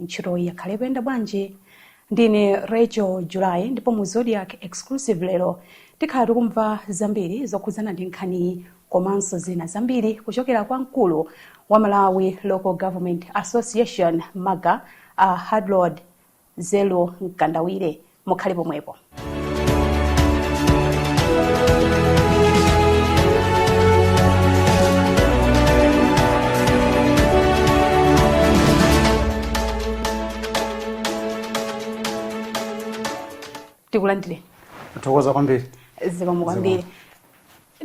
Ntchitoyi yakhala ikuyenda bwanji? Ndine Rachel July ndipo mu Zodiak Exclusive lero tikhala tikumva zambiri zokhudzana ndi nkhaniyi komanso zina zambiri kuchokera kwa mkulu wa Malawi Local Government Association, MALGA, a Hadrod Zeru Mkandawire. mukhale pomwepo takulandirani tathokoza kwambiri zikomo kwambiri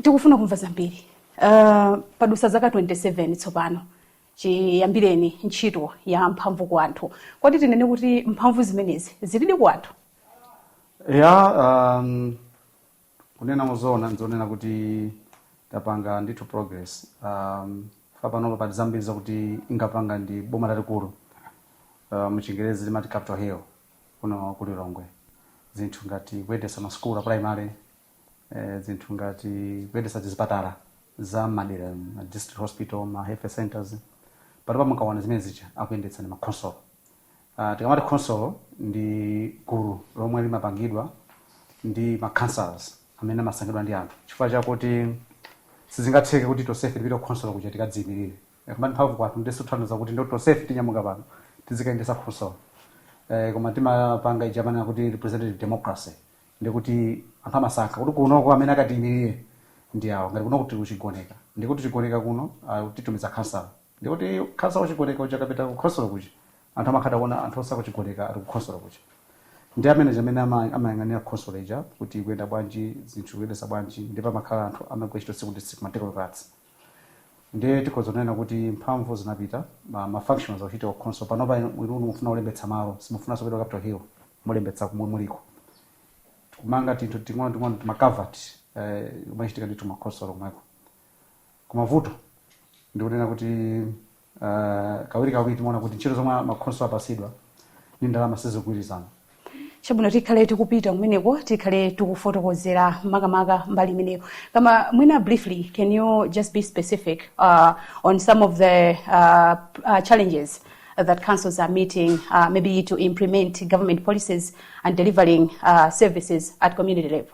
tikufuna kumva zambiri uh, padutsa zaka 27 tsopano Chiyambireni ntchito ya mphamvu ku anthu, kodi tinene kuti mphamvu zimenezi zilidi ku anthu? Eya, um, kunena mozoona ndizonena kuti tapanga ndithu progress um, kufika panopa pali zambiri zakuti inkapanga ndi boma lalikulu uh, muchingerezi timati capital hill kuno ku lilongwe zinthu ngati kuyendetsa masukulu a primary eh, zinthu ngati kuyendetsa zipatala za m'madera ma district hospital ma health centers panopa mukaona zimene zija akuyendetsa ndi makhonsolo uh, tikamati khonsolo ndi gulu lomwe limapangidwa ndi ma councillors amene amasankhidwa ndi anthu chifukwa chakuti sizingatheke kuti tonsefe tipite kukhonsolo kuja tikadziyimirire kumati mphamvu ku anthu sizitanthauza kuti ndiye tonsefe tinyamuka pano tizikayendetsa khonsolo eh, koma timapanga ija amanena kuti representative democracy ndikuti anthu amasankha kuti kunoko amene akatiimirire ndi awa ngati kuno tili ku Chigoneka ndikuti chigoneka kuno ah, titumiza khansala ndikuti khansala wa ku Chigoneka uja akapita kukhonsolo kuja anthu amakhala kuona anthu onse akuchigoneka ali kukhonsolo kuja ndi amene amene ama- amayang'anira khonsolo ija kuti ikuyenda bwanji zinthu akuyendetsa bwanji ndipo amakhala anthu amene amagwira ntchito tsiku ndi tsiku ma technocrats ndiye tikhoza kunena kuti mphamvu zinapita ma, ma functions akuchitika ku khonsolo panopa inu inu mufuna kulembetsa malo simufunanso kupita ku capital hill mulembetsa komwe muliko kumanga tinthu ting'ono ting'ono timaculvert eh, zimachitika ndithu kumakhonsolo komweko koma vuto ndikunena kuti uh, kawirikawiri timaona kuti ntchito zomwe makhonsolo apatsidwa ndi ndalama sizigwirizana chabwino tikhale tikupita kumeneko tikhale tikufotokozera makamaka mbali imeneyo koma mwina briefly can you just be specific uh, on some of the uh, uh, challenges that councils are meeting uh, maybe to implement government policies and delivering uh, services at community level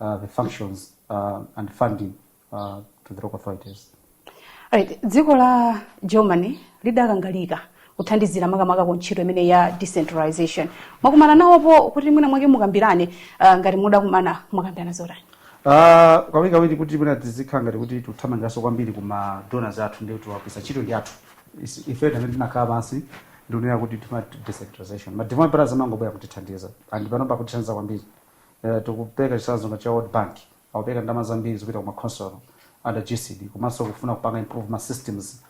uh, the functions uh, and funding uh, to the local authorities. Right. dziko la germany lidakangalika kuthandizira makamaka ku ntchito imene ya decentralization mwakumana nawoko kuti mwina mwake mukambirane uh, ngati mudakumana mwakambirana zotani Ah, kawirikawiri kuti mwina tizikhala ngati kuti tikuthamangiranso kwambiri kuma donors athu nde tiwafunsa ntchito ndi yathu Is- ife tamene tinakhala pansi ndikunena kuti tifuna decentralization ma development partners amangobwera kutithandiza and panopa akutithandiza kwambiri eh, tikupereka chitsanzo ngati cha world bank akupereka ndalama zambiri zopita ku ma council under gcd komanso kufuna kupanga improve ma systems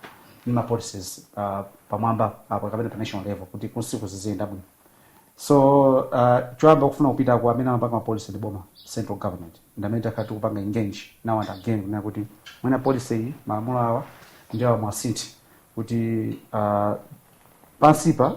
ndi ma policies uh, pamwamba apo kapena pa national level kuti kunsiku ziziyenda bwino so uh, choyamba kufuna kupita kwa amene amapanga mapolicy ndi boma central government ndi amene takhala tikuwapanga engage now and again kunena kuti mwina policy iyi malamulo awa ndi awa muwasinthe kuti uh, pansipa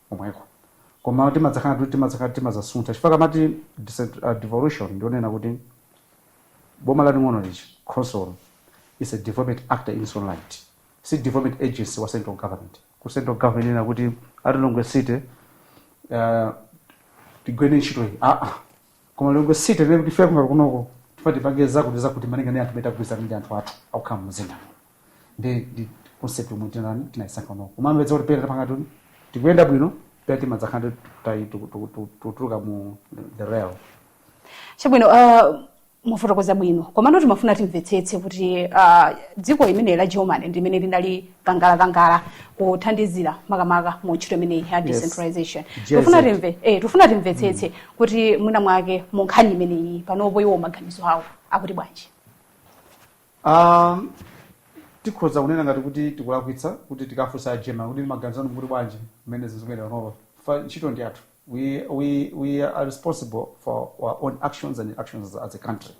komweko koma timadzakhala kuti timadzakhala kuti timadzasuntha chifukwa tikamati decent- ah, devolution ndiyonena kuti boma laling'ono monga khonsolo is a development actor in its own right si development agency wa central government ku central government inene kuti a lilongwe city uh, tigwireni ntchito iyi aa koma lilongwe city inene kuti ife ngati kunoko tifuna tipange zakuti zakuti malinga ndi mmene tagwirizana ndi anthu athu akukhala mumzinda ndi ndi concept yomwe tinani tinayisankha kunoko koma mumapeza kuti pena tapanga ngati tikuyenda bwino pena timadzakhala tikutuluka mu the rail chabwino uh, mwafotokoza bwino komano timafuna timvetsetse kuti uh, dziko limene la germany ndi limene linali kangalika kuthandizira makamaka mu ntchito imeneyi ya decentralization Yes. tikufuna timve eh, tikufuna timvetsetse kuti mwina mwake mu nkhani imeneyi panopo iwo maganizo awo akuti bwanji Ah, tikhoza kunena ngati kuti tikulakwitsa kuti tikafunse a german kuti maganizo anu akuti bwanji mmene zilili panopa chifukwa ntchito ndi yathu we, we, we are responsible for our own actions and actions as a country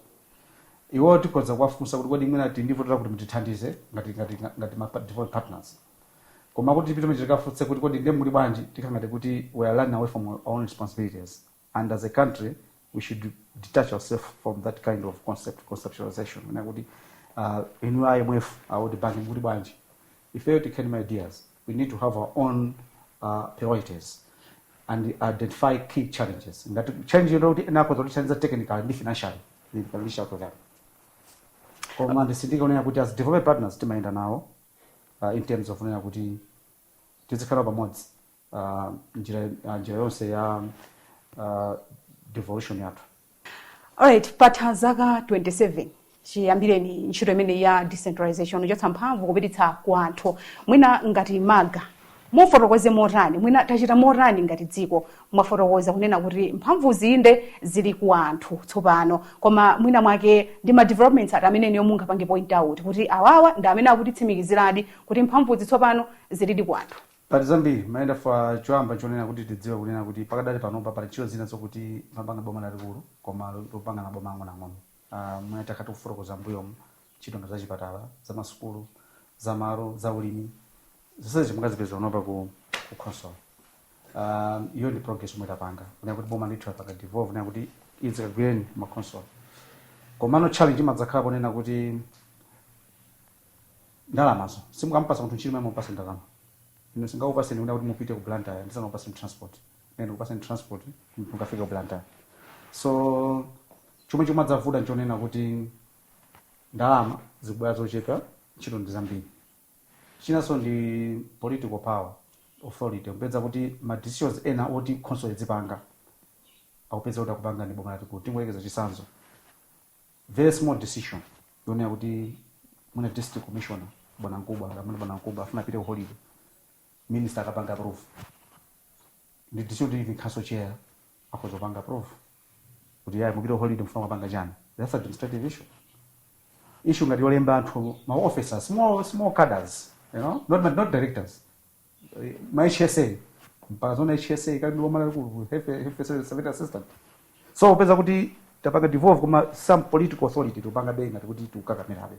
Iwo tikhoza kuwafunsa kuti kodi mwina tili ndi vuto lakuti mutithandize ngati ngati ngati ma development partners. Koma kuti tipite mwachiti tikafunse kuti kodi ndiye mukuti bwanji tikhala ngati kuti we are running away from our own responsibilities and as a country we should detach ourself from that kind of concept conceptualization. Mwina kuti uh, inu a IMF a World Bank mukuti bwanji Ifeyo tikhale ndi ma ideas, we need to have our own uh, priorities and identify key challenges. Ngati challenge ilipo kuti ena akhoza kutithandiza technically ndi financially, we can reach out to them. Koma nditsindike kunena kuti as development partners timayenda nawo uh, in terms of kunena kuti tizikhala pamodzi uh, njira, uh, njira yonse ya uh, devolution yathu alright patha zaka 27 chiyambireni ntchito imene ya decentralization yochotsa mphamvu kupititsa ku anthu mwina ngati MALGA mufotokoze motani mwina tachita motani ngati dziko mwafotokoza kunena kuti mphamvuzi nde zili ku anthu tsopano koma mwina mwake ndi ma developments ati amene inuyo mungapange point out kuti awawa ndi amene akutitsimikiziradi kuti mphamvuzi tsopano zilidi ku anthu Pali zambiri mayenda for choyamba chonena kuti tidziwe kunena kuti pakadali panopa pali ntchito zina zokuti amapanga boma lalikulu koma lopanga maboma ang'onoang'ono mmene takhala tikufotokoza m'mbuyomu ntchito ngati zachipatala zamasukulu za malo za ulimi zonsezi mukazipeza panopa ku ku khonsolo iyo ndi progress yomwe tapanga kunena kuti boma ndithu lapanga devolve kunena kuti izi kagwireni makhonsolo komano challenge imadzakhala ponena kuti ndalamazo si mukamupasa munthu ntchito muyenera mumupase ndalama ine singakupaseni kunena kuti mupite ku blantyre ndisanakupaseni transport nde ndikupaseni transport mukafika ku blantyre so chomwe chimadzavuta nchonena kuti ndalama zikubwera zochepa ntchito ndi zambiri chinanso ndi political power authority kupeza kuti ma decisions ena oti khonsolo idzipanga ukupeza kuti akupanga ndi boma lalikulu tingoyerekeza chisanzo very small decision yonena kuti mwina district commissioner bwana mkubwa kapena bwana mkubwa afuna apite ku holiday minister akapanga approve ndi decision kuti even council chair akhoza kupanga approve kuti yayi mupite ku holiday mufuna kupanga chani that's administrative issue issue ngati yolemba anthu ma officers small small cadres you know not not directors ma HSA mpaka zoona HSA akali ndi boma lalikulu ku health health surveillance assistant so upeza kuti tapanga devolve koma some political authority tikupangabe ngati kuti tikukakamirabe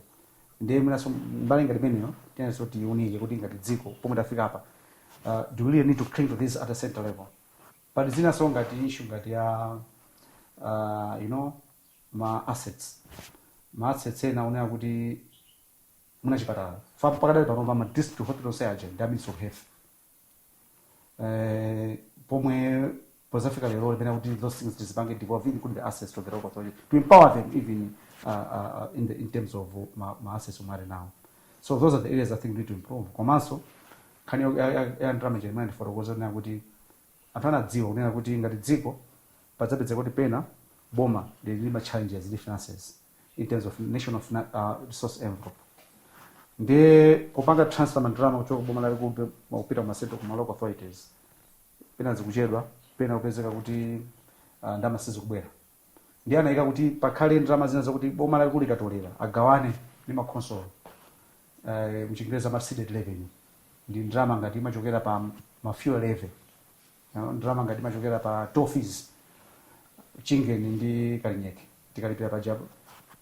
ndiye mwinaso mbali ngati imeneyo tiyeneraso tiunike kuti ngati dziko pomwe tafika apa uh, do we really need to cling to this at a central level but zinaso ngati issue ngati ya uh, you know ma assets ma assets ena onena kuti mwina chipatala fam pakadali panopa ma district hospital onse aja ndi a ministry of health eh, pomwe pozafika lero timayenera kuti those things tizipange devolve including the assets to the local authority to empower them even uh, uh, in, the, in terms of uh, ma, ma assets omwe ali nawo so those are the areas i think we need to improve komanso nkhani yo- ya- ya- ya ndalama ija imene ndifotokoza kunena kuti anthu anadziwa kunena kuti ngati dziko padzapezeka kuti pena boma lili ndi ma challenges ndi finances in terms of national fina- uh, resource envelope ndiye kupanga transfer mandalama kuchoka boma lalikulu kupita kuma centre kuma local authorities pena zikuchedwa pena kupezeka kuti uh, ndalama sizikubwera ndiye anayika kuti pakhale ndalama zina zakuti boma lalikulu likatolera agawane ndi makhonsolo uh, mchingereza ma ceded revenue ndi ndalama ngati imachokera pa ma fuel levy Aa, ndalama ngati imachokera pa toll fees Chingeni ndi Kalinyeke tikalipira paja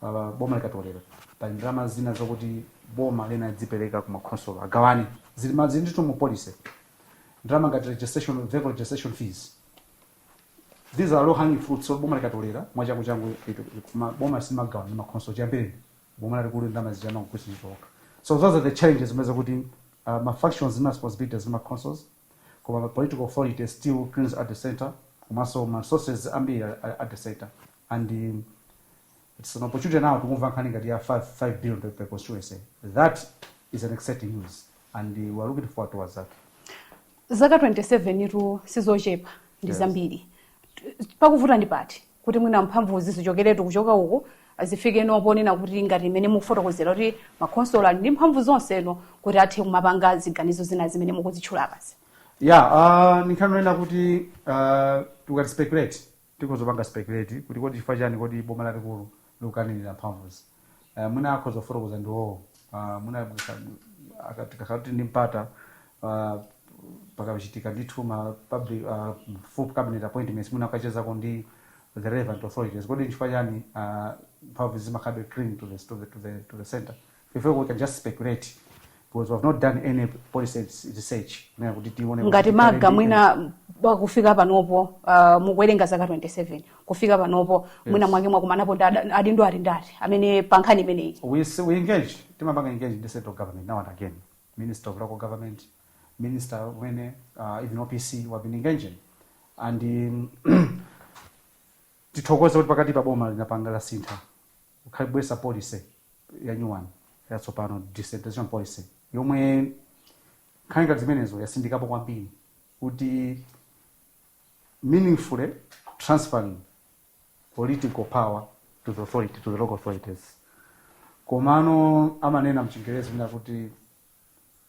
ah, boma likatolera pali ndalama zina zokuti boma lizipereka ku makhonsolo agawane zili ma- zili ndithu mu policy ndalama ngati registration vehicle registration fees these are low hanging fruits so boma likatolera mwachangu changu itu- ma- boma simagawa ndi makhonsolo zambiri boma lalikulu ndalama zichama kukwisa chitoka so those are the challenges zimene zakuti uh, ma functions ndi ma responsibilities ndi ma councils koma ma political authority still clings at the center komanso ma resources ambiri ali ali at the center and um, it's an opportunity now tikumamva nkhani ngati ya 5, 5 billion per, per constituency that is an exciting news and uh, we are looking forward towards that zaka 27 ndithu sizochepa ndi Yes. zambiri pakuvuta ndi pati kuti mwina mphamvuzi zichokeretu kuchoka uku zifikeno ponena kuti ngati imene mukufotokozera kuti makhonsolo ali ndi mphamvu zonseno kuti athe kumapanga ziganizo zina zimene mukuzitchula apazi ya uh, ndikhoza kunena kuti uh, tikati speculate tikhoza kupanga speculate kuti kodi chifukwa chani kodi boma lalikulu likukanirira mphamvuzi uh, mwina akhoza kufotokoza ndi iwowo uh, mwina tikakhala kuti ndi mpata uh, pakachitika ndithu ma public uh, full cabinet appointments mwina mukachezako ndi the relevant authorities kodi nchifukwa chani uh, mphamvu zimakhalabe cling to the, to the, to the, to the center if we can just speculate because we have not done any policy research kunena kuti tione kuti ngati tikhale maga ndi- mwina pa kufika panopo uh, mukuwerenga zaka 27 kufika panopo mwina mwake mwakumanapo ndi ada- adindo aliwonse amene pa nkhani imeneyi we, s- we engage timapanga engage ndi central government now and again minister of local government minister mwini uh, even opc we have been engaging and um, tithokoze kuti pakati pa boma linapanga lasintha Nkukhala kubweretsa policy ya new one yatsopano decentralization policy yomwe nkhani ngati zimenezo yatsindikapo kwambiri kuti meaningfully transferring political power to the authority to the local authorities komano amanena mchingerezi mwina kuti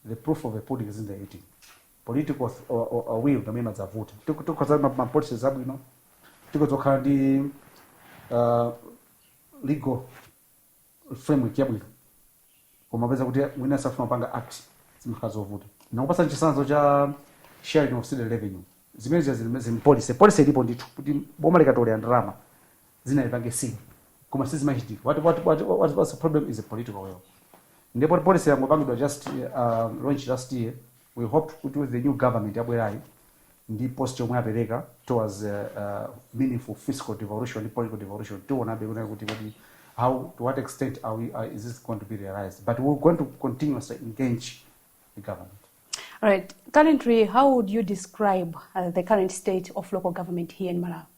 the proof of a pudding is in the eating political uh, uh, uh, will ndi imene imadzavuta Tiku- tikhoza ma- ma policies abwino tikhoza kukhala ndi uh, legal framework yabwino koma kupeza kuti mwina safuna kupanga act zimakhala zovuta ndakupatsani chitsanzo cha sharing of ceded revenue zimene zili zili m'policy policy ilipo ndithu kuti boma likatolera ndalama zina lipange sing koma sizimachitika what, what, what, what, what's the problem is a political will ndipo policy yangopangidwa just uh, launch last year we hope kuti with the new government yabwerayi ndi post yomwe apereka towards uh, uh, meaningful fiscal devolution ndi political devolution tionabe kunena kuti kuti how to what extent are we, are, is this going to be realized but we're going to continuously engage the government All right. Currently, how would you describe uh, the current state of local government here in Malawi?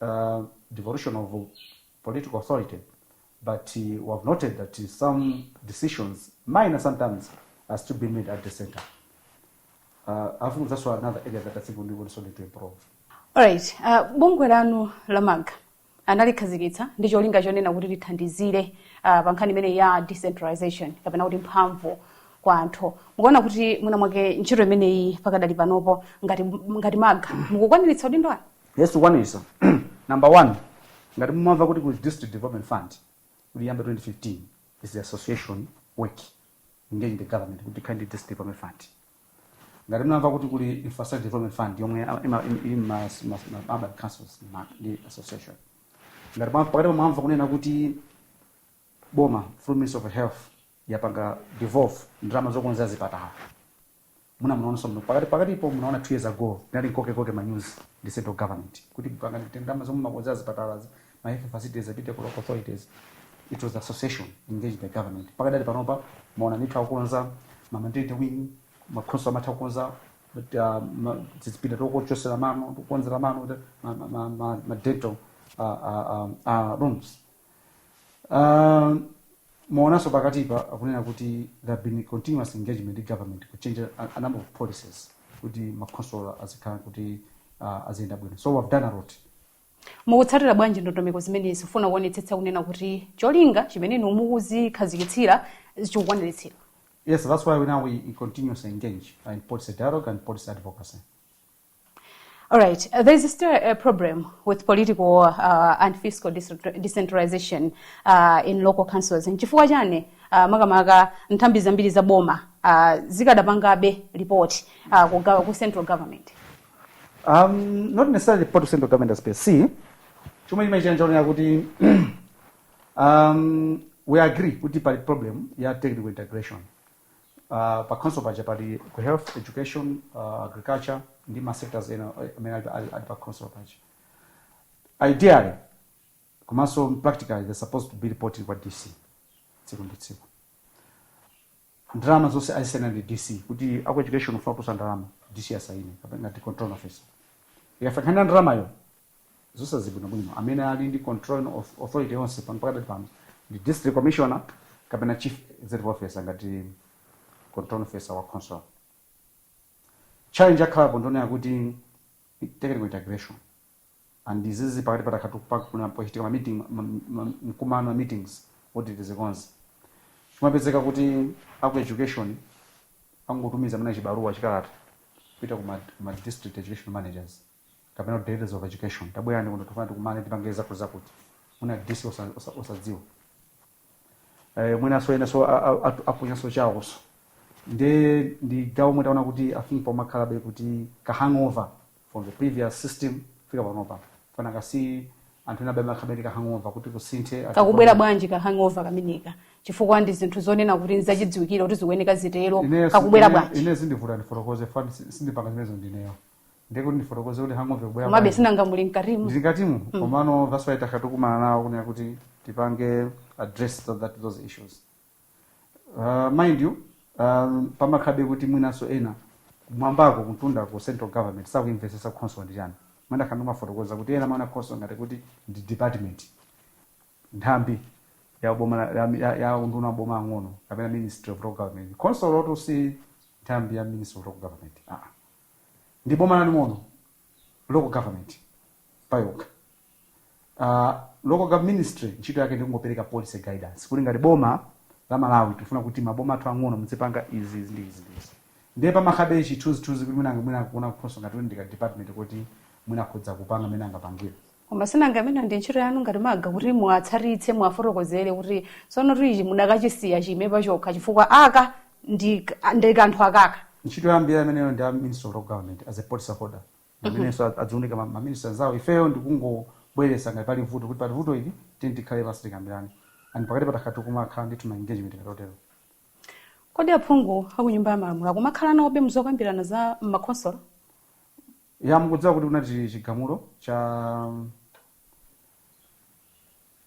uh, devolution of political authority, but uh, we have noted that uh, some decisions, minor sometimes, are still being made at the center. Uh, I think that's another area that I think we need also need to improve. Alright, uh, bungwe lanu la MAGA analikhazikitsa ndi cholinga chonena kuti lithandizire uh, pa nkhani imene ya decentralization kapena kuti mphamvu kwa anthu mukaona kuti mwina mwake ntchito imeneyi pakadali panopo ngati, ngati MAGA mukukwaniritsa udindo wanu Yes, tikukwanitsa. Number one, ngati mumamva kuti kuli district development fund, kuyamba 2015, is the association work, engage the government, kuti tikhale ndi district development fund. Ngati mumamva kuti kuli infrastructure development fund, yomwe ima- ima- ili ma- ma- ma- urban councils ma- ndi association. Ngati mwa- pakatipa mumamva kunena kuti boma through ministry of health yapanga devolve ndalama zokonzera zipatala muna- munaonanso muno pakati pakatipo munaona 2 years ago tinali m'kokekoke ma news ndi central government kuti pangani kuti ndalama zomwe mumakonzera zipatalazi ma health facilities apite ku local authorities it was association engaged the government pakadali panopa mwaona ndithu akukonza ma maternity wing makhonsolo amatha kukonza uh, ma- tizipinda tochotsera mano tokonzera mano kuti ma- ma- ma- ma- ma dental uh, uh, um, uh, rooms Uh, mwaonanso pakatipa kunena kuti there have been continuous engagement ndi government ku change a, a number of policies kuti makhonsolo azikhala kuti uh, aziyenda bwino so we've done a lot mukutsatira bwanji ndondomeko zimenezi kufuna kuonetsetsa kunena kuti cholinga chimene inu mukuzikhazikitsira chikukwaniritsidwa yes that's why we now we, we continuously engage uh, in policy dialogue and policy advocacy All right. Uh, there's still a problem with political uh, and fiscal decentralization uh, in local councils. Nchifukwa chani uh, makamaka nthambi zambiri za boma uh, zikadapangabe report uh, ku, ku central government. Um, not necessarily report to central government as per se. Chomwe chimachanja onena kuti um, we agree kuti pali problem ya technical integration. Uh, pa council paja pali aku health education uh, agriculture ndi ma sectors ena eh, amene ali, ali, ali pa council paja ideally komanso practically they're supposed to be reporting kwa dc tsiku ndi tsiku ndalama zonse amasayina ndi dc kuti aku education akafuna kutulutsa ndalama dc asayine kapena ngati controlling officer ikafika nkhani ya ndalamayo zonsezi bwino bwino amene ali ndi controlling auth- authority yonse pano pakati pano ndi district commissioner kapena chief executive officer ngati controlling officer wa council challenge yakhalapo ndonena kuti technical integration and izizi pakati patakhala kuti pakuchitika ma meeting ma- ma- ma- mkumano meetings kuti tizikonze kumapezeka kuti aku education angotumiza mene chibaruwa chikalata kupita ku ma, ma district education managers kapena kuti directors of education tabwerani kuno tifuna tikumane tipange zakuzakuti mwina dc osa- osa- osadziwa eh, mwinanso enanso apanganso chawonso nde ndi gawo omwe taona kuti i think pamakhalabe kuti ka hangover from the previous system kufika panopa chifukwa kasi anthu ena ena amakhalabe ndi ka hangover kuti kusinthe ati- kakubwera bwanji ka hangover kameneka chifukwa ndi zinthu zonena kuti nzachidziwikire kuti zikuyeneka zitero Ineyo si- kakubwera ine- bwanji ine sindivuta ndifotokoze chifukwa sindipanga zimenezo ndineyo ndiye kuti ndifotokoze kuti hangover ikubwera komabe bwanji. sinanga muli mkatimu ndili mkatimu komano that's why takhala tikumana nawo kunena kuti tipange address that, that, those issues uh, mind you um, pamakhalabe kuti mwinanso ena kumwambako kumtunda ku central government sakuimvetsetsa khonsolo ndi chani mwina ndakhala ndimafotokoza kuti ena amaona khonsolo ngati kuti ndi department nthambi ya boma la- ya, ya, ya unduna wa maboma ang'ono kapena ministry of local government khonsolotu si nthambi ya ministry of local government ah. ndi boma laling'ono local government payokha uh, local gov- ministry ntchito yake ndikungopereka policy guidance kuti ngati boma la malawi tifuna kuti maboma athu ang'ono muzipanga izi izi ndi izi ndi izi ndiye pamakhalabe chi chithunzithunzi kuti mwina mwina kuona khonsolo ngati kuti ndi ka department kuti mwina akhoza kupanga mmene angapangire koma sinanga imene ndi ntchito yanu ngati maga kuti muwatsatitse muwafotokozere kuti sonotu ichi mukadachisiya chiime pachokha chifukwa aka ndi ndi kanthu akaka ntchito yambiri imeneyo ndi a minister of local government as a policy holder amenenso aziunikira ma- ma minister anzawo ifeyo ndikungobweretsa ngati pali vuto kuti pali vuto ili tini tikhale pansi tikambirane and pakatipa takhala tikumakhala ndithu ma engagement otero kodi aphungu akunyumba ya malamulo akumakhala nawobe muzokambirana za makhonsolo Ya, mukudziwa kuti kunali chigamulo cha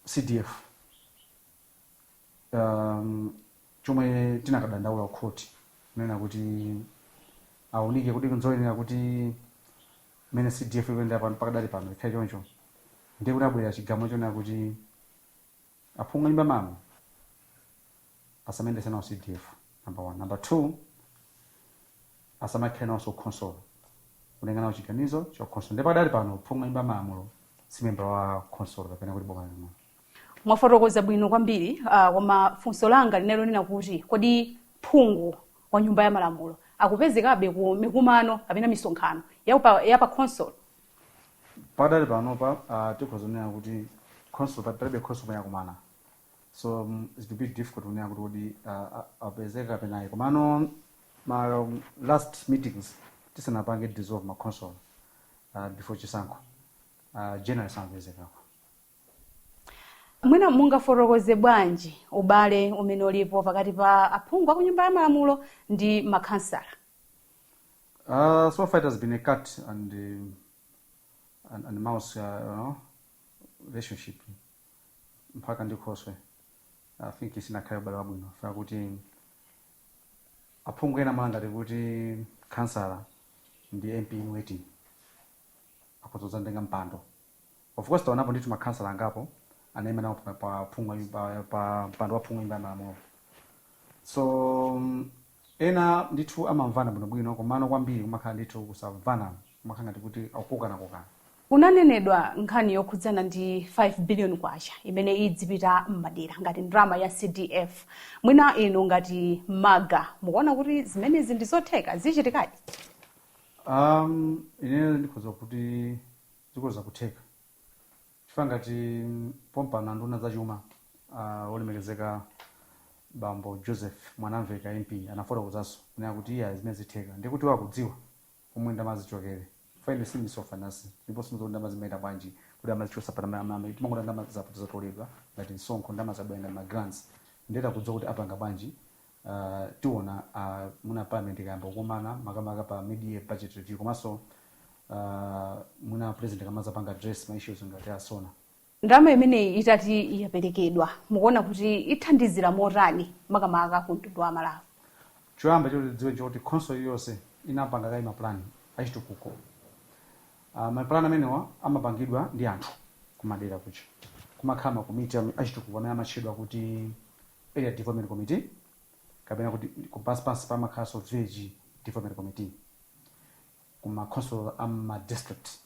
CDF um, chomwe tinakadandaula kukhoti kunena kuti aunike kuti nzoyenera kuti mmene CDF ikuyendera pano pakadali pano ikhale choncho, ndiye kunabwera chigamulo chonena kuti Aphungu anyumba ya malamulo asamayendetse nawo CDF number 1 number 2 asamakhale nawonso khonsolo kupanga nawo chiganizo cha khonsolo nde pakadali pano phungu wa nyumba ya malamulo si membala wa khonsolo kapena kuti boma laling'ono mwafotokoza bwino kwambiri uh, koma funso langa linali lonena kuti kodi phungu wa nyumba ya malamulo akupezekabe ku mikumano kapena misonkhano ya pa, ya pa khonsolo pakadali panopa uh, tikhoza kunena kuti khonsolo pa- palibe khonsolo yomwe yakumana so mm, it's a bit difficult kunena kuti kodi uh, a- apezeka kapena ayi komano ma um, last meetings tisanapange dissolve ma khonsolo uh, before chisankho uh, generally samapezekako mwina mungafotokoze bwanji ubale umene ulipo pakati pa aphungu a ku nyumba ya malamulo ndi makhansala Uh, so far it has been a cat and um, and, and mouse uh, you know, relationship mpaka ndi khoswe i think isinakhale ubale wabwino chifukwa chakuti aphungu ena amaona ngati kuti khansala ndi mp in waiting akhoza kudzanditenga mpando Of course taonapo ndithu makhansala angapo anaima nawo pa, pa, phungu wa nyumba- pa, pa mpando wa phungu wa nyumba ya malamulo so mm, ena ndithu amamvana bwinobwino komano kwambiri kumakhala ndithu kusamvana kumakhala ngati kuti akukokanakokana Kunanenedwa nkhani yokhudzana ndi 5 billion kwacha imene idzipita m'madera ngati ndalama ya CDF. Mwina inu ngati maga mukuona kuti zimenezi ndi zotheka zichitikadi? Um, ineyo ndikhoza kuti zikhoza kutheka chifukwa ngati pompano nduna ya zachuma a olemekezeka bambo joseph mwanamveka mp anafotokozanso kunena kuti iya zimenezi zitheka ndikuti iwo akudziwa komwe ndalama zichokere chifukwa ine sindine minister of finance ndipo sindidziwa kuti ndalama zimayenda bwanji kuti amazichotsa pa ndalama zimene timangoona ndalama zakuti zatoledwa ngati msonkho ndalama zabwera ngati ma grants ndiye akudziwa kuti apanga bwanji uh, tiona uh, mwina parliament ikayamba kukumana makamaka pa mid-year budget review komanso uh, mwina president akamadzapanga address ma issues ngati a SONA ndalama imeneyi itati yaperekedwa mukuona kuti ithandizira motani makamaka ku mtundu wa malawi choyamba choti tidziwe choti khonsolo iliyonse inapanga kale mapulani achitukuko uh, mapulani amenewa amapangidwa ndi anthu kumadera kuja kumakhala makomiti am- achitukuko amene amatchedwa kuti Area Development Committee kapena kuti pansi pansi pamakhalanso Village Development Committee ku ma khonsolo a ma district.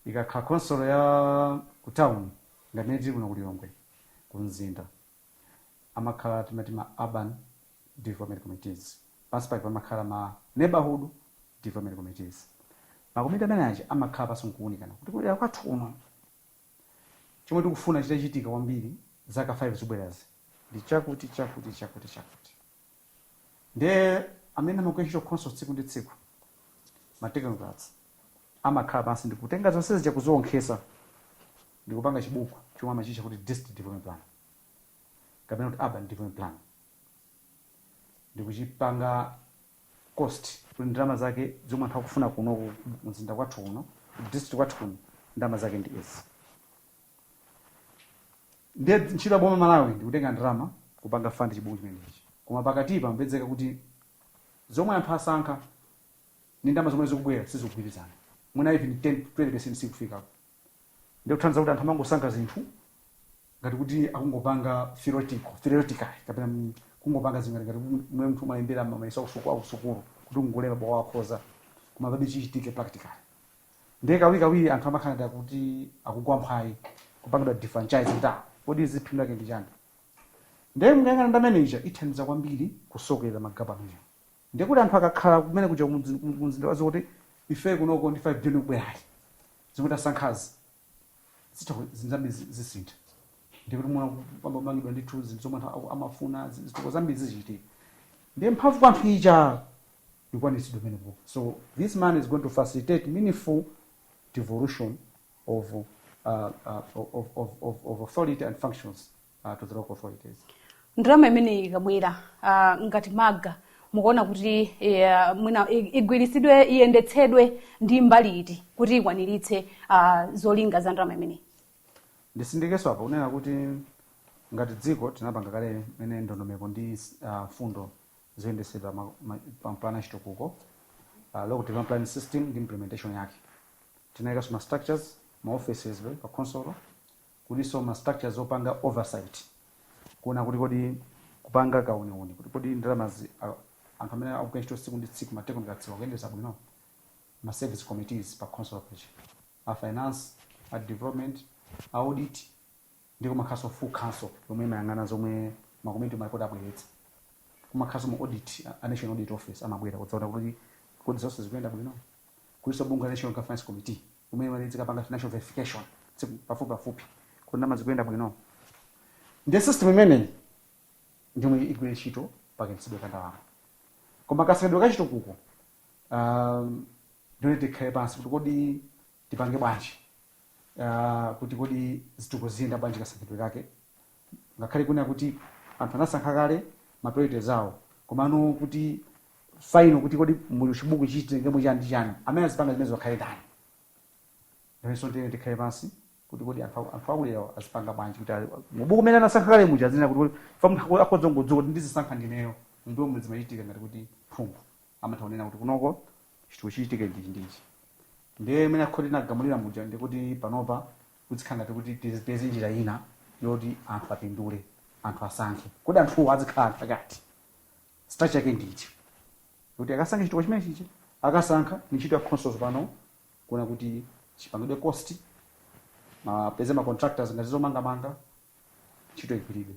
Ikakhala khonsolo ya ku town ngati imene tili kuno ku Lilongwe ku mzinda amakhala timati ma Urban Development Committees. Pansi pake pamakhala ma Neighborhood Development Committees. Makomiti amene aja amakhala pansi n'kuunikana kuti kudera kwathu kuno Chomwe tikufuna chitachitika kwambiri zaka 5 zikubwerazi ndi chakuti chakuti chakuti chakuti nde amene amagwira ntchito khonsolo tsiku ndi tsiku ma technocrats amakhala pansi ndikutenga zonse zija kuzisonkhetsa ndikupanga chibuku chomwe amachitcha kuti district development plan kapena kuti urban development plan ndikuchipanga cost kuti ndalama zake zomwe anthu akufuna kuno ku mzinda kwathu kuno ku district kwathu kuno ndalama zake ndi izi ndiye ntchito ya boma la malawi ndi kutenga ndalama kupanga fund chibuku chimenechi koma pakatipa mupezeka kuti zomwe anthu asankha ndi ndalama zomwe zikubwera sizikugwirizana mwina even 10 20 percent sikufikako ndikuthandiza kuti anthu amangosankha zinthu ngati kuti akungopanga theoretical theoretically kapena mm, kungopanga zingati ngati kuti mmene munthu amalembera mayeso akusuku akusukulu kuti ungolemba bwa wakhoza koma palibe chichitike practically ndiye kawirikawiri anthu amakhala ngati kuti akugwa mphwayi kupangidwa defranchise ndakuti kodi izi phindu lake ndi chani ndiye mukayang'ana ndalama ija ithandiza kwambiri kusokera magapu amenewo Ndiye kuti anthu akakhala kumene kuja kumudzi adziwa kuti ife kunoko ndi 5 billion ikubwerayi zomwe tasankhazi zitha zinthu zambiri zisintha ndiye kuti mwina pakhala kumangidwa ndithu zinthu zomwe anthu amafuna zitukuko zambiri zichitika ndiye mphamvu kwa anthu ija ikwanitsidwa pamenepo so this man is going to facilitate meaningful devolution of, uh, uh, of, of, of, of authority and functions uh, to the local authorities. ndalama imeneyi ikabwera ah, ngati MALGA mukuona kuti eh, mwina i- igwiritsidwe iyendetsedwe ndi mbali iti kuti ikwaniritse ah, zolinga za ndalama imeneyi nditsindikenso apo kunena kuti ngati dziko tinapanga kale kumene ndondomeko ndi ah, mfundo zoyendetsedwa ma- ma- pa plan achitukuko uh, local development plan system ndi implementation yake tinayikanso ma structures ma offices pa khonsolo kulinso ma structures opanga oversight kuona kuti kodi kupanga kauniuni kuti kodi ndalamazi a- anthu amene akugwira ntchito tsiku ndi tsiku ma technocrats akuyendetsa bwino ma service committees pa council paja, a finance a development a audit ndi kumakhalanso full council yomwe imayang'ana zomwe makomiti malipoti abweretsa kumakhalanso ma audit a- a national audit office amabwera kudzaona kuti kodi zonse zikuyenda bwino kulinso bungwe la national governance committee yomwe imati idzikapanga financial verification tsiku pafupipafupi kuti ndalama zikuyenda bwino ndiye system imeneyi ndiyomwe igwire ntchito pakayendetsedwe ka ndalama koma kasankhidwe ka chitukuko um, ndiyoyenera tikhale pansi kuti kodi tipange bwanji uh, kuti kodi zitukuko ziyenda bwanji kasankhidwe kake ngakhale kunena kuti anthu anasankha kale ma priorities awo komano kuti final kuti kodi mu chibuku ichi titengemo chani ndi chani amene azipanga zimenezo akhale ndani naponso ndiyoyenera tikhale pansi kuti kodi anthu aku- anthu akudera azipanga bwanji kuti ali- mubuku mene anasankha kale muja m'malo moti kodi fa munthu akhoza kungodzuka kuti ndizisankha ndineyo ndi momwe zimachitika ngati kuti phungu amatha kunena kuti kunoko chitukuko chichitike ndichi ndichi ndiye imene akhoti nagamulira muja ndikuti panopa kuzikhala ngati kuti tizipeze njira ina yoti anthu apindule anthu asankhe kodi anthuwo azikhala anthu angati structure yake ndi ichi kuti akasankhe chitukuko chimene chichi akasankha ni ntchito ya khonsolo pano kuona kuti chipangidwe cost apeze ma contractors ngati zomangamanga ntchito igwiridwe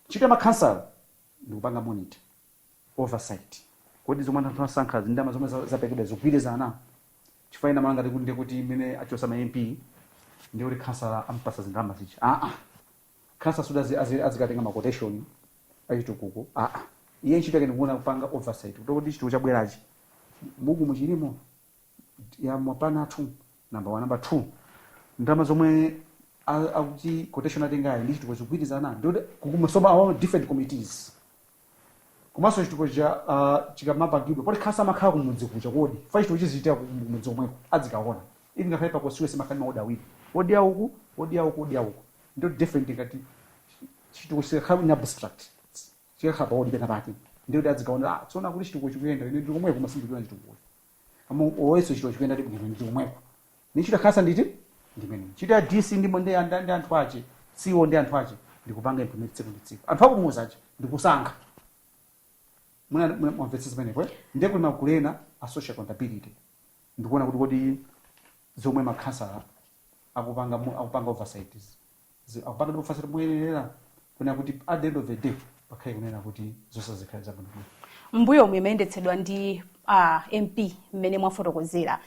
ntchito ya makhansala ndikupanga monitor oversight kodi zomwe anthu asankha zindama zomwe za- zaperekedwa zikugwirizana chifukwa ina malanga tikuti ndikuti mmene achosa ma mp ndikuti khansala ampasa zindalama zicha aa Khansala sikuti azi azi azikatenga ma quotation achitukuko aa iye ntchito yake ndikuona kupanga oversight kuti kodi chitukuko chabwerachi mbukumu chilimo ya maplan athu number 1 number 2 ndalama zomwe a- akuti quotation atengayi ndi chitukuko zikugwirizana ndi kuti kukumana mma different committees komanso chitukuko chija ah, chikamapangidwa poti khansala amakhala kumudzi kuja kodi fa chitukuko chizichitika kumudzi komweko adzikaona iyi ngakhale pa constituency pamakhala maodi awiri odi auku odi auku odi auku ndiye different ngati chitukuko chikakhala in abstract chikakhala pa odi penapake ndiye kuti adzikaona ah, azioona kuti chitukuko chikuyenda ine ndiri komweko ma ndizikaona chitukuko Kumuuza kuti chitukuko chikuyenda ndi bwino ndi komweko. Ni ntchito ya khansala ndithu imeneyo. Ntchito ya DC ndi ndi anda ndi anthu ache. CEO ndi anthu ache ndikupanga implement tsiku ndi tsiku. Anthu akumudzi yawo ndikusankha. Muna muna mwamvetsa zimenezo eti. Ndiye kuli magulu ena a social accountability. Ndikuona kuti kodi zomwe makhansala akupanga mu- akupanga oversight zi- akupanga oversight moyenerera kunena kuti at the end of the day pakhale kunena kuti zonse zikhale zabwinobwino mbuyo omwe imayendetsedwa ndi uh, mp mmene mwafotokozera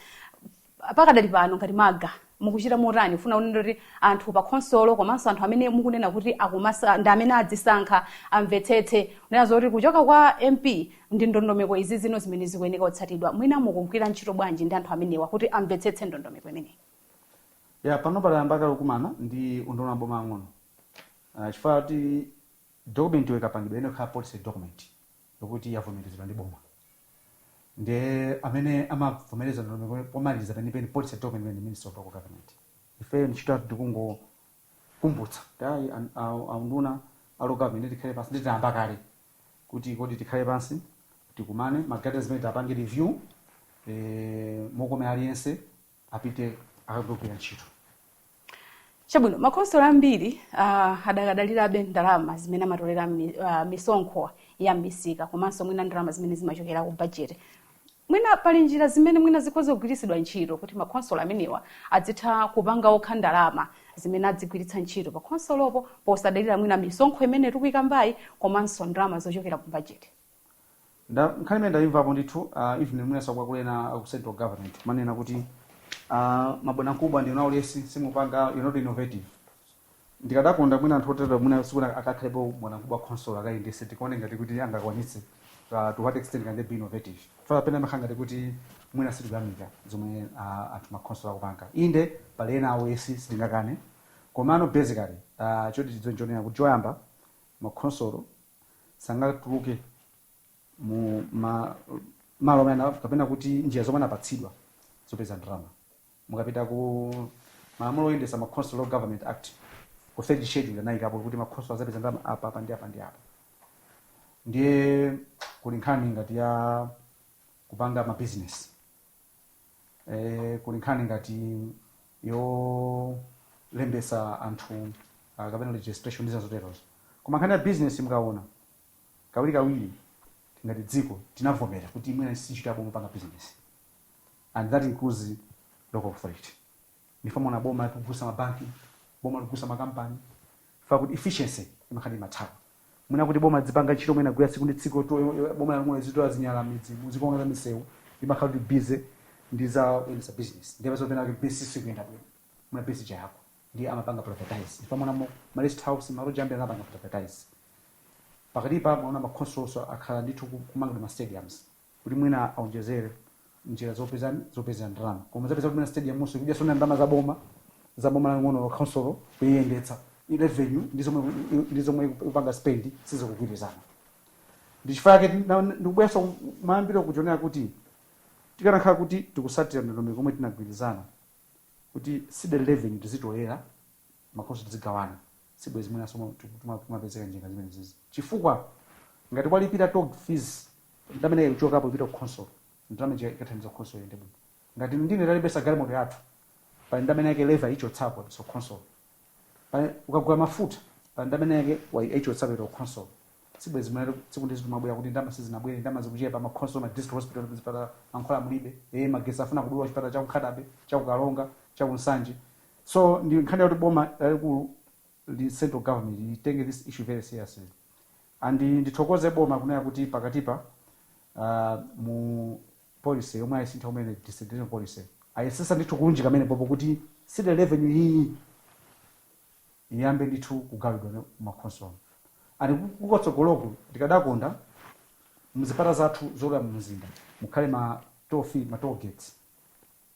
pakadali pano ngati maga mukuchita motani pofuna kunena kuti anthu pa khonsolo komanso anthu amene mukunena kuti akumadera ndi amene adzisankha amvetsetse kunena zoti kuchoka kwa mp ndi ndondomeko izi zino zimene zikuyeneka kutsatidwa mwina mukugwira ntchito bwanji ndi anthu amenewa kuti amvetsetse ndondomeko imeneyi ya panopa tayamba kale kukumana ndi unduna wa maboma ang'ono Ah, chifukwa kuti document yo ikapangidwa iyenera kukhala policy document yokuti yavomerezedwa ndi boma nde amene amavomereza ndondomeko pomaliza penipeni policy document imeneyi ndi minister of local government ife ntchito yathu ndikungokumbutsa kuti ayi an- a- aunduna a local government tikhale pansi nde tayamba kale kuti kodi tikhale pansi tikumane ma guidelines amene tapange review eh, mokomera aliyense apite akagwire ntchito chabwino makonsolo ambiri uh, adakadalirabe ndalama zimene amatolera mi, uh, misonkho ya misika komanso mwina ndalama zimene zimachokera ku bajeti mwina pali njira zimene mwina zikhoza kugwiritsidwa ntchito kuti makonsolo amenewa adzitha kupanga okha ndalama zimene adzigwiritsa ntchito pa khonsolopo posadalira mwina misonkho imene tikuikambayi komanso ndalama zochokera ku bajeti Nda, nkhani imene ndayimvapo ndithu uh, even mwinanso akuluakulu ena a ku central government kumanena kuti uh, mabwanamkubwa ndinu aulesi simupanga you're not innovative ndikadakonda mwina anthu otero mwina tsiku lina akakhalepo bwanamkubwa khonsolo akayendese tikaone ngati kuti angakwanitse uh, to what extent can they be innovative fala pena amakhala ngati kuti mwina sitikuyamika zomwe uh, anthu makhonsolo akupanga inde pali ena aulesi sitingakane komano basically uh, choti tidziwe nchonena kuti choyamba makhonsolo sangatuluke mu ma, malo amene ana- kapena kuti njira zomwe anapatsidwa zopeza ndalama mukapita ku malamulo oyendesa makhonsolo Local Government Act ku third schedule anayikapo kuti makhonsolo azapeza ndalama apa apa ndi apa ndi apa ndiye kuli nkhani ngati ya kupanga ma business e, kuli nkhani ngati yolembesa anthu ah, kapena registration ndi zina zoterozo koma nkhani ya business mukawona kawirikawiri ngati dziko tinavomera kuti mwina si ntchito ya boma kupanga business and that includes local authority ndi chifukwa mwaona boma likugulitsa mabanki boma likugulitsa makampani chifukwa kuti efficiency imakhala imathawa mwina kuti boma lidzipanga ntchito mwina gwira tsiku ndi tsiku to boma lomwe lizitola zinyalala m'midzimu lizikonza misewu imakhala kuti busy ndi za kuyendesa business ndipo zopena kuti business ikuyenda bwino mwina business ja yako ndi amapanga privatize ndi chifukwa mwaona ma rest house ma lodge ambiri anapanga privatize pakatipa mwaona makhonsolo akhala ndithu ku- kumanga ndi ma stadiums kuti mwina aonjezere njira zopeza zopezera ndalama koma zapeza kuti mwina stadium nso ikudyanso ndalama za boma za boma laling'ono khonsolo kuyendetsa i revenue ndi zomwe ndi zomwe ikupanga spend sizikugwirizana ndi chifukwa chake ndikubwesa mayambiro kuchonera kuti tikanakhala kuti tikusatira ndondomeko yomwe tinagwirizana kuti ceded revenue tizitolera makhonsolo tidzigawana sibwezi mwinanso tikumapezeka njinga zimenezizi chifukwa ngati kwalipira toll fees ndalama ina ikuchokapo ipita ku khonsolo ndalama ija ikathandiza khonsolo iyende bwino ngati ndine talembesa galimoto yathu pali ndalama ina yake leva ichotsapo apititsa ku khonsolo Pali- ukagula mafuta pali ndalama ina yake waichotsapo ipita ku khonsolo sibwezi mwina tsiku ndi tsiku tikumabwera kuti ndalama sizinabwere ndalama zikuchepa makhonsolo ma district hospital zipatala mankhwala mulibe ee magesi afuna kudula chipatala cha ku Nkhata Bay cha ku Karonga cha ku Nsanje So ndi nkhani yoti boma lalikulu the central government litenge this issue very seriously and ndithokoze boma kunena kuti pakatipa uh, mu policy yomwe ayisintha kumene decentralization policy ayesesa ndithu kulunjika pamenepopo kuti ceded revenue iyi iyambe ndithu kugawidwa m'makhonsolo and kutsogoloku ndikadakonda mzipata zathu zolowera mu mzinda mukhale ma toll fee ma toll gates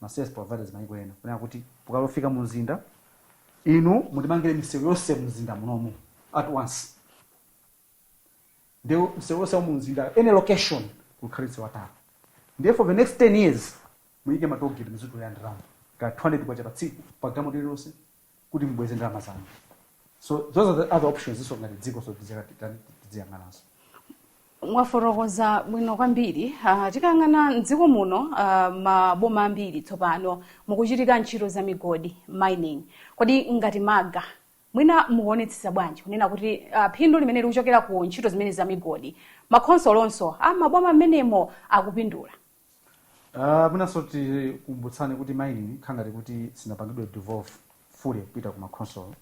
ma service providers mayiko ena kunena kuti mukalofika mu mzinda inu mutimangire misewu yonse mu mzinda munomu at once nde msewu wonse wa mu mzinda any location kukhale msewu wa tala ndiye for the next 10 years muyike ma tollgate muzitolera ndalama ka 200 kwacha pa tsiku pa galimoto iliyonse kuti mubweze ndalama zanu so those are the other options ifenso ngati dzikonso tidziyang'ananso mwafotokoza bwino kwambiri uh, tikayang'ana mdziko muno uh, maboma ambiri tsopano mukuchitika ntchito za migodi mining kodi ngati malga mwina mukuonetsetsa bwanji kunena kuti uh, phindu limene likuchokera ku ntchito zimene za migodi makhonsolo onse a maboma amenewo akupindula Uh, mwinanso tikumbutsane kuti mining khangati kuti sinapangidwe devolve fully kupita ku makhonsolo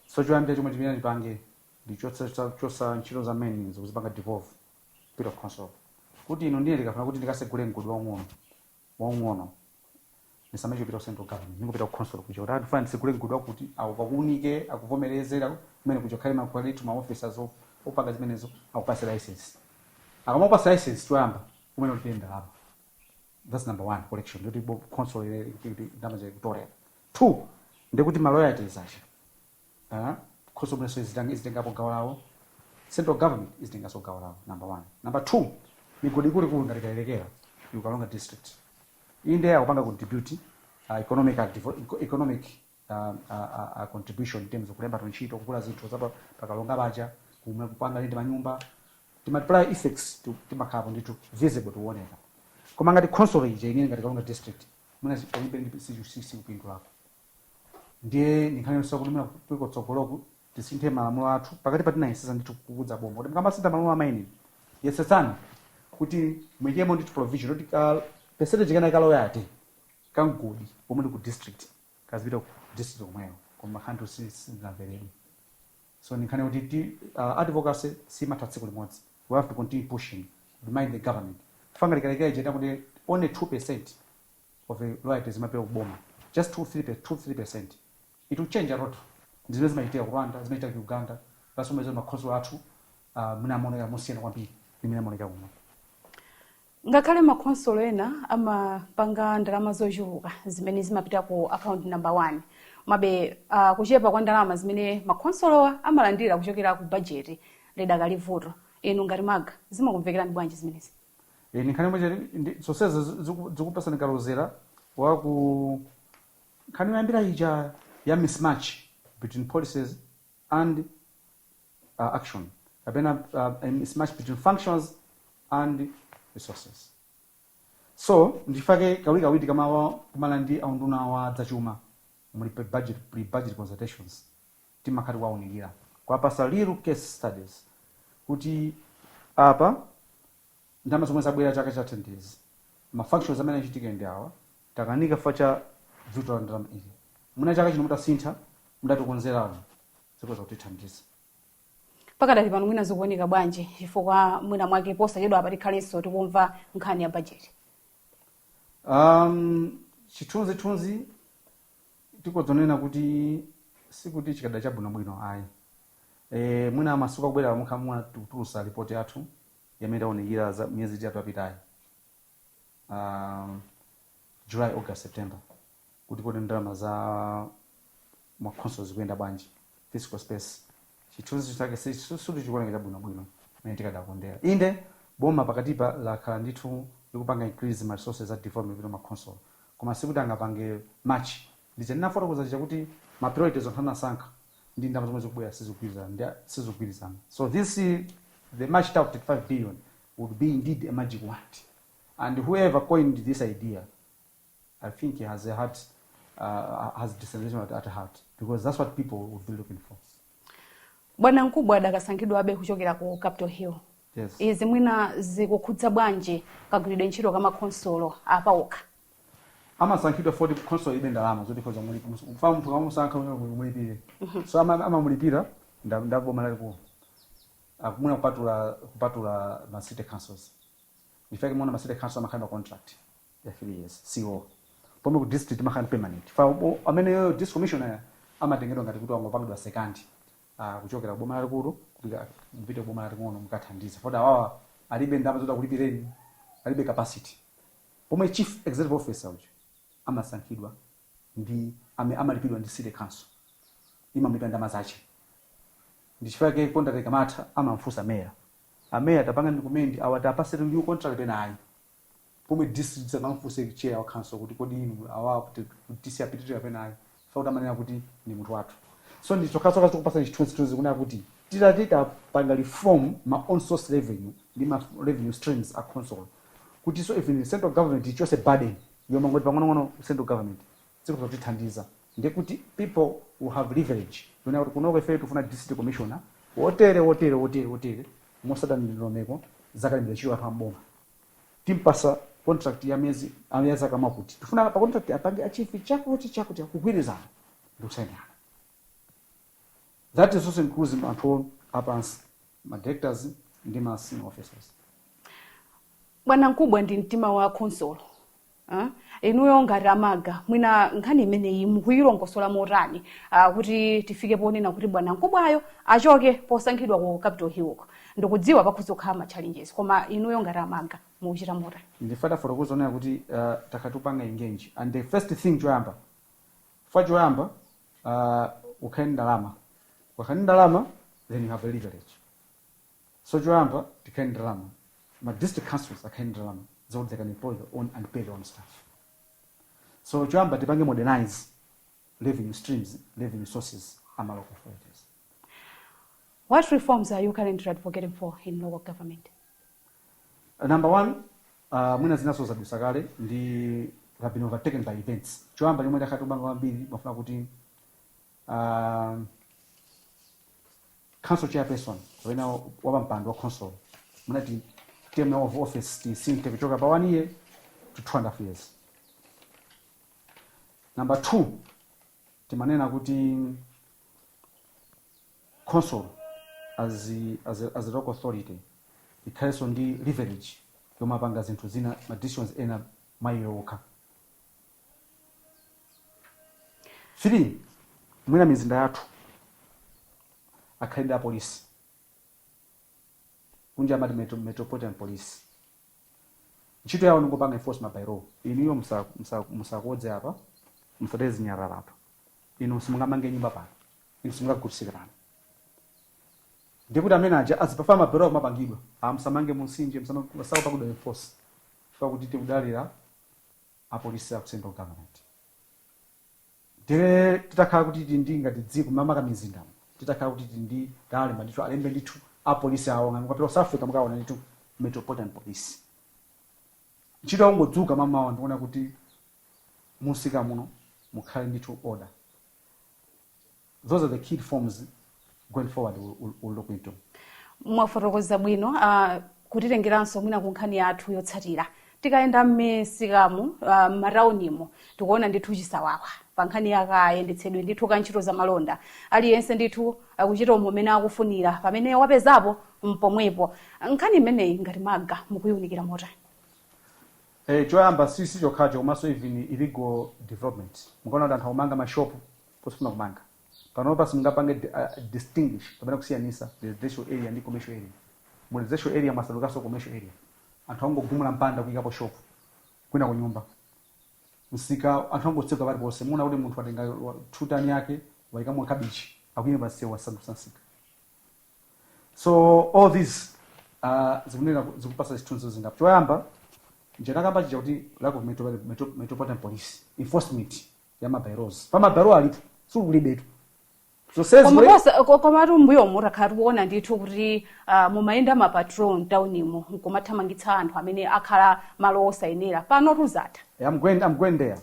so choyambira chomwe timene tipange ndi chotsa chotsa- chotsa ntchito za mining ndikuzipanga devolve kupita ku khonsolo kuti ine ndiye ndikafuna kuti ndikasegule mgodi waung'ono waung'ono ndisamachite kupita ku central government ndingopita ku khonsolo kuja kuti ndifuna ndisegule mgodi wakuti awo akuunike akuvomereze la- kumene kuja kukhale makwalitu ma officers op- opanga zimenezo akupatse license akamapatsa license choyamba kumene kuti ndalama that's number one collection yoti bo- khonsolo ine ndamachakutolera two ndikuti ma royalties aja Aaa khonsolo yomwenso izitangi izitengapo gawo lawo central government izitenganso gawo lawo number 1 number 2 migodi ikuluikulu ngati kayelekera ku karonga district inde akupanga contribute uh, economic uh, economic uh, uh, uh, contribution in terms of kulemba ntchito kugula zinthu za pa karonga paja pomwe kupanga ndi manyumba the multiplier effects to timakhalapo ndithu visible timaoneka koma ngati khonsolo ija inene ngati karonga district mwina palibe ndi sichusisi kupindulako ndiye ndinkhani yosowa kuti mwina kuliko tsogoloku tisinthe malamulo athu pakatipa tinayesetsa ndithu kukauza boma kuti mkamasintha malamulo a mining yesetsani kuti muyikemo ndithu provision kuti ka percentage kena ka royalty ka mgodi pomwe ndi ku district kazipita ku district omweyo koma khanthu sizinamveredwe so ndinkhani kuti ti uh, advocacy simatha tsiku limodzi we have to continue pushing remind the government ngati kayelekera ija kuti only 2 percent of the royalties zimaperekedwa kuboma just 2 3 2 3 percent it will change a lot ndizimene zimachitika ku rwanda zimachitika ku uganda that's why makhonsolo athu uh, mwina amaoneka mosiyana kwambiri ndimene amaoneka kuno ngakhale makhonsolo ena amapanga ndalama zochuluka zimene zimapita ku account number one komabe uh, kuchepa kwa ndalama zimene makhonsolowa amalandira kuchokera ku bajeti lidakali vuto inu ngati malga zimakumvekerani bwanji zimenezi e, ni nkhani imodzi ndi zonsezi zi- ziku- zikupasani kalozera wa ku nkhani yoyambira ija ya mismatch between policies and uh, action kapena uh, a mismatch between functions and resources so ndi chifukwa chake kawirikawiri tikamakumana ndi aunduna wa zachuma muli pe budget pre budget consultations timakhala tikuwaunikira, kuwapatsa real case studies kuti apa ndalama zomwe zabwera chaka chatha ndi izi, ma functions amene achitike ndi awa, takanika chifukwa cha bvuto la ndalama ili, mwina chaka chino mutasintha, mutatikonzerako zikhoza kutithandiza. Pakadali pano mwina zikuoneka bwanji chifukwa mwina mwake posachedwapa tikhalenso tikumva nkhani ya bajeti? Um, chithunzithunzi tikhoza kunena kuti sikuti chikhala chabwinobwino ayi e, mwina masiku akubwerawa mukhamva tikutulutsa ripoti yathu ya mmene taunikira za miyezi itatu yapitayi um, july august september kuti kodi ndalama za makhonsolo zikuyenda bwanji Fiscal space, Chithunzi chake sikuti chikuoneka chabwino bwino mmene tikadakondera. Inde, boma pakatipa lakhala ndithu likupanga increase ma resources za development kupita muma khonsolo, koma sikuti angapange match. Ndiye ndinafotokoza chija kuti ma priorities anthu anasankha ndi ndalama zomwe zikubwera sizikugwirizana ndi sizikugwirizana. So this the much talked 5 billion would be indeed a magic wand and whoever coined this idea, I think he has a heart, uh, has decentralization at, at heart because that's what people would be looking for. bwana mkubwa adakasankhidwabe kuchokera ku capital hill Yes. izi mwina zikukhudza bwanji kagwiridwe ntchito ka makhonsolo apawokha amasankhidwa poti khonsolo ilibe ndalama zoti khoza kumulipira chifukwa munthu ukamamusankha uyenera umulipire so ama amamulipira ndi ndi boma lalikulu Akamuna kupatula kupatula ma city councils in fact mma city council amakhala ndi contract ya 3 years CEO pomwe ku district amakhala ndi permanent chifukwa ubo- amene district commissioner amatengedwa ngati kuti wangopangidwa second uh, kuchokera kuboma lalikulu kupita kupita kuboma laling'ono mukathandize poti awawa alibe ndalama zoti akulipireni alibe capacity pomwe chief executive officer uja amasankhidwa ndi ame- amalipiridwa ndi city council imamulipira ndalama zace ndi chifukwa chake contract ikamatha amamfunsa meya ameya tapangani recommend awa tiwapatse new contract kapena ayi pomwe DC sakamfunsa chair wa council kuti kodi inu awa kuti kuti DC apitirire kapena ayi chifukwa choti amanena kuti ndi munthu wathu so ndi chokhachokha chikupatsani chithunzithunzi kunena kuti titati tapanga reform ma own source revenue ndi ma revenue streams a council kuti so even central government ichotse burden yomangoti pang'onong'ono ku central government zikhoza kutithandiza ndiye kuti people will have leverage yonena kuti kunoko ife tikufuna district commissioner wotere wotere wotere wotere motsata ndondomeko zakalembera ntchito anthu amboma timpasa contract ya miezi ah, ya zaka zakuti tikufuna pa contract apange achieve chakuti chakuti kugwirizana ndikusainirana that is also inclusive anthu apansi ma directors ndi ma senior officers bwana mkubwa ndi mtima wa khonsolo Uh, inuyo ngati a MALGA mwina nkhani imeneyi mukuyilongosola motani uh, kuti tifike ponena kuti bwana mkubwayo achoke posankhidwa ku capital hill uko ndikudziwa pakhoza kukhala ma challenges koma inuyo ngati a MALGA mukuchita motani ndiye tafotokoza ponena kuti uh, takatupanga engage and the first thing choyamba fa choyamba uh, ukhale ndi ndalama ukhale ndi ndalama then you have a leverage So choyamba tikhale ndi ndalama, ma district councils akhale ndi ndalama zakuti they can employ their own and pay their own staff. So choyamba tipange modernize revenue streams, revenue sources a ma local authorities. What reforms are you currently advocating for in local government? Uh, number one, uh, mwina zinanso zadutsa kale ndi have been overtaken by events. Choyamba chomwe takhala tikupanga kwambiri timafuna kuti uh, council chairperson kapena wapampando wa council mumati term of office tisinthe kuchoka pa one year to two and a half years number two timanena kuti council as, a- as, a- as a local authority ikhalenso ndi leverage yomapanga zinthu zina ma decisions ena mwa iwo okha 3 mwina mizinda yathu akhale ndi apolisi kunja amati metro, metropolitan police ntchito yawo ndingopanga enforce ma by-law inuyo msa- msa- msakodze apa msataye zinyalala apa inu simungamange nyumba pano inu simungagulitsire pano ndiye kuti amene aja azipanga ma by-law akumapangidwa musamange mumtsinje msamange sakupangidwa enforce chifukwa kuti tikudalira apolisi aku central government tere titakhala kuti tili ndi ngati dziko makamaka m'mizindamu titakhala kuti tili ndi talemba ndithu alembe ndithu apolisi awo ngati mukapita ku south africa mukaona ndithu metropolitan police ntchito yakungodzuka mamawa ndikuona kuti mumsika muno mukhale ndithu order those are the key reforms going forward we'll, we'll, we'll look into. mwafotokoza bwino uh, kutitengeranso mwina ku nkhani yathu yotsatira tikayenda m'misikamu uh, m'mataunimo tikuona ndithu chisawawa pa nkhani yakayendetsedwe ndithu ka ntchito za malonda aliyense ndithu akuchita umo umene akufunira pamene wapezapo mpomwepo nkhani imeneyi ngati MALGA mukuyiunikira motani Eh, choyamba si si chokhacho komanso even illegal development mukaona kuti anthu akumanga mashopu posafuna kumanga. Panopa simungapange distinguish kapena kusiyanisa residential area ndi commercial area. Mu residential area mwasandukanso commercial area. Anthu akungogumula mpanda kuyikapo shop, kwinaku nyumba. Msika anthu angotseka paliponse. Muwona kuti munthu watenga two ton yake wayikamo kabichi akuyima pa msewu wasandutsa msika. So all these zikunena zikupasa zithunzi zingapo. Choyamba nja ndakamba chija kuti lack of metropolitan police enforcement. ya mabailozi pa mabailozi alipo sikulibetu Koma zonsezi kosa- ko- komatu mbuyo timakhala tikuona ndithu kuti ah, mumayenda ma patrol mtaunimo nkumathamangitsa anthu amene akhala malo osayenera pano tuzata I'm going, I'm going there.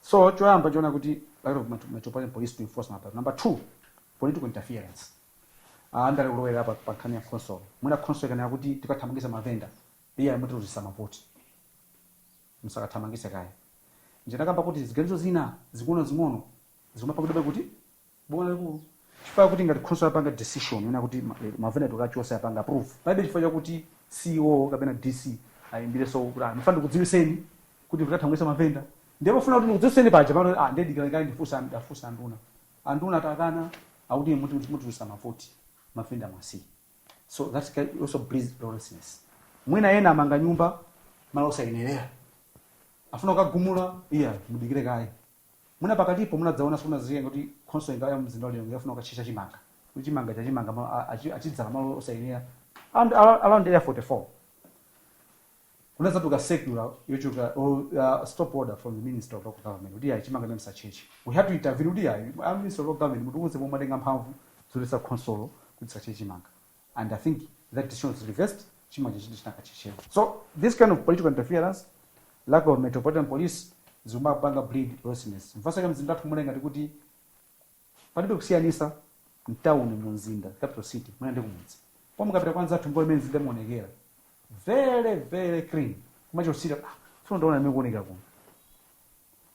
So choyamba chonena kuti lack of met- metropolitan police to enforce ma bylaws. Number two, political interference. Uh, andale kulowera pa pa nkhani ya khonsolo. Mwina khonsolo ikanena kuti tikathamangisa mavenda. Iyayi mutiluzisa mavoti. Musakathamangise kaye. Nja nakamba kuti ziganizo zina zing'ono zing'ono zikumapangidwabe kuti? Boma lalikulu. Chifukwa yakuti ngati khonsolo yapanga decision yonena kuti ma eh, mavenda tikachose yapanga approve, palibe chifukwa chakuti CEO kapena DC ayimbireso kuti ah, ndimafuna ndikudziwiseni kuti ife tikathamangisa mavenda. Ndiye pofuna kuti ndikudziwiseni paja pano ah, ndiye dikirani kaye ndifunse an- ndafunsa anduna. Anduna atakana akuti muti mutiluzisa mavoti mavenda muwasiye. so that also breeds lawlessness mwina ena amanga nyumba malo osayenerera afuna kukagumula iya mudikire kaye mwina pakatipo munadzaona sindidziwa kuti khonsolo ngati ya mzinda wa Lilongwe inafuna kukatchetcha chimanga kuti chimanga acha chimanga malo- a- achi- achidzala malo osayenera and ar- around area 44 kunadzatuka circular yochoka or uh, stop order from the minister of local government kuti ayi chimanga chimenechi asacheche we had to intervene kuti ayi a minister of local government mutiuze pomwe atenga mphamvu zoletsa khonsolo kuti isacheche chimanga and i think that decision was reversed chimanga chachiti chinakachechewa so this kind of political interference lack of metropolitan police zimapanga breed lawlessness mpaka mzinda wathu kumaoneka ngati kuti Palibe kusiyanisa mtauni mumzinda, capital city, mwina ndi kumudzi pomwe mukapita kwa anzathu mukaone mmene mzinda imaonekera very very clean kumachita kusirira ah ndifuna nditaona mmene ikuonekera kuno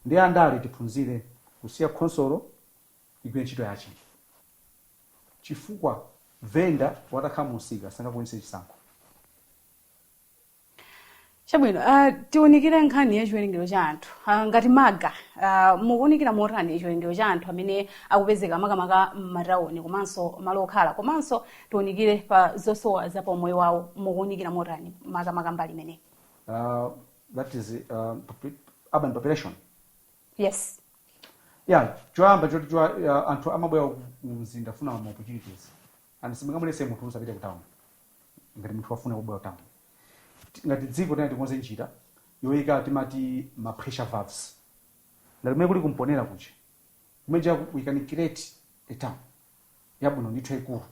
ndi andale tiphunzire kusiya khonsolo igwire ntchito yache chifukwa venda watakhala mumsika sangakwanitse chisankho. chabwino uh, tiunikire nkhani ya chiwerengero cha anthu uh, ngati maga uh, mukuunikira motani chiwerengero cha anthu amene akupezeka makamaka m'matawuni komanso malo okhala komanso tiunikire pa zosowa za paumoyo wawo mukuunikira motani makamaka mbali imeneyi Uh, that is uh, popu- urban population. yes Yeah, choyamba chodziwa uh, anthu amabwera ku mzinda kufuna ma opportunities. and simungamuletse munthu usapite ku town ngati munthu wafuna kubwera ku town Ti- ngati dziko tiyeni tikonze njira yoyika timati ma pressure valves ngati kumene kuli ku Mponela kuja kumeja we can create a town yabwino ndithu yaikulu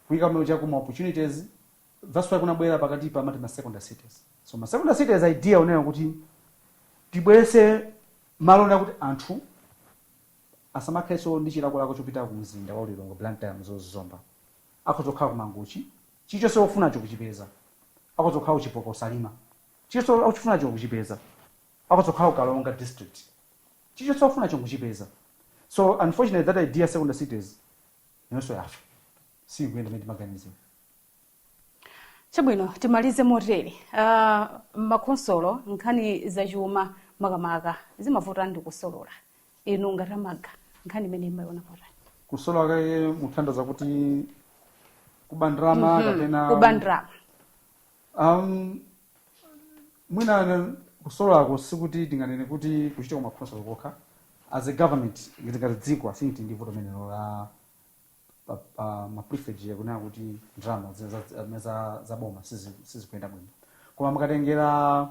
kuyika kumene kuja kuli ma opportunities that's why kunabwera pakatipa amati ma secondary cities so ma secondary cities idea yonena kuti tibweretse malo ena kuti anthu asamakhalenso ndi chilakolako chopita ku mzinda wa Lilongwe, Blantyre, Mzuzu, Zomba. Akhoza kukhala ku Mangochi. Chilichonse akufunacho akuchipeza. Akhoza kukhala ku Chipoka, Salima. Chilichonse akuchifunacho akuchipeza. Akhoza kukhala ku Karonga district. Chilichonse akufunacho nkuchipeza. So unfortunately that idea secondary cities nayonso yafa. Siikuyenda mmene timaganizira. chabwino timalize motere uh, m'makhonsolo nkhani zachuma makamaka zimavuta ndi kusolola inu ngati a MALGA nkhani imeneyi mumayiona motani kusolola kaya mutanthauza kuti kuba ndalama kapena kuba ndalama um, mwina kusololako sikuti tinganene kuti kukuchitika kumakhonsolo kokha as a government ngati ngati dziko I think tili ndi vuto limenelo la pa, pa ma pilferage kunena kuti ndalama za- za- za- za- za boma sizi- sizikuyenda bwino koma mukatengera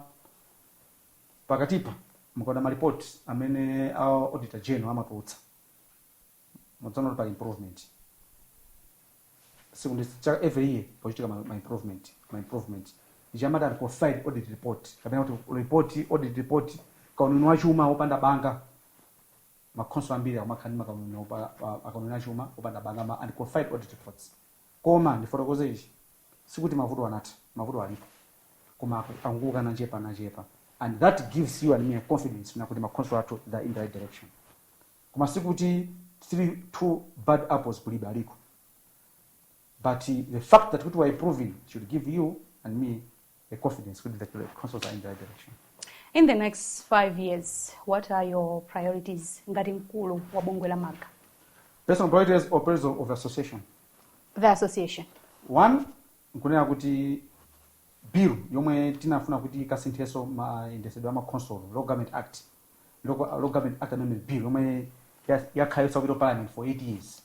pakatipa mukaona malipoti amene a auditor general amatulutsa mudzaona kuti pali improvement each and every year pakuchitika ma, ma improvement ma improvement ichi amati unqualified audit report kapena kuti report audit report kauniuni wachuma wopanda banga makhonsolo ambiri akumakhala ndi makauniuni opa- a- akauniuni achuma opanda banga ma unqualified audit reports koma ndifotokoze ichi sikuti mavuto anatha mavuto alipo koma aku- akungonka nachepa nachepa and that gives you and me a confidence kunena kuti makhonsolo athu they're in the right direction koma sikuti the two bad apples kulibe aliko but uh, the fact that kuti we are improving should give you and me a confidence kuti the councils are in the right direction. In the next five years, what are your priorities ngati mkulu wa bungwe la MALGA? Personal priorities or priorities of, of the association? The association. One, nkunena kuti bill yomwe tinafuna kuti ikasinthenso mayendetsedwe a makhonsolo local government act local, local government act amendment bill yomwe ya- yakhala yosapita parliament for 8 years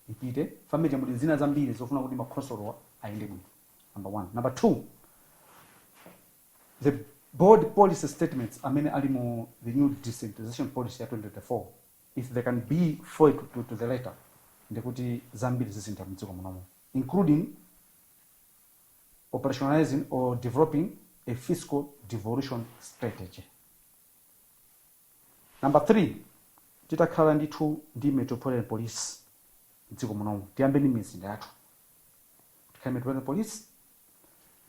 ipite finally muli zina zambiri zofuna kuti makhonsolowa ayende bwino number one. Number two, the bold policy statements amene ali mu the new decentralization policy ya 2024 if they can be foiled to, to the letter ndikuti zambiri zisintha mdziko munomo including operationalizing or developing a fiscal devolution strategy Number 3, titakhala ndithu ndi Metropolitan Police m'dziko munomu, tiyambe ndi m'mizinda yathu kuti tikhale Metropolitan Police.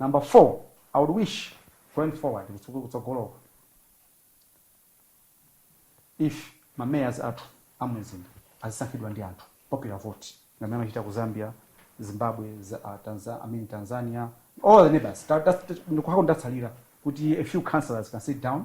Number 4, I would wish going forward, kutsogolo kutsogoloku, if ma Mayors athu a m'mizinda azisankhidwa ndi anthu, popular vote, ngati m'mene amachitira ku Zambia, Zimbabwe, Tanzania, I mean Tanzania, all the neighbours, ndiko kokha tatsalira kuti a few councillors can sit down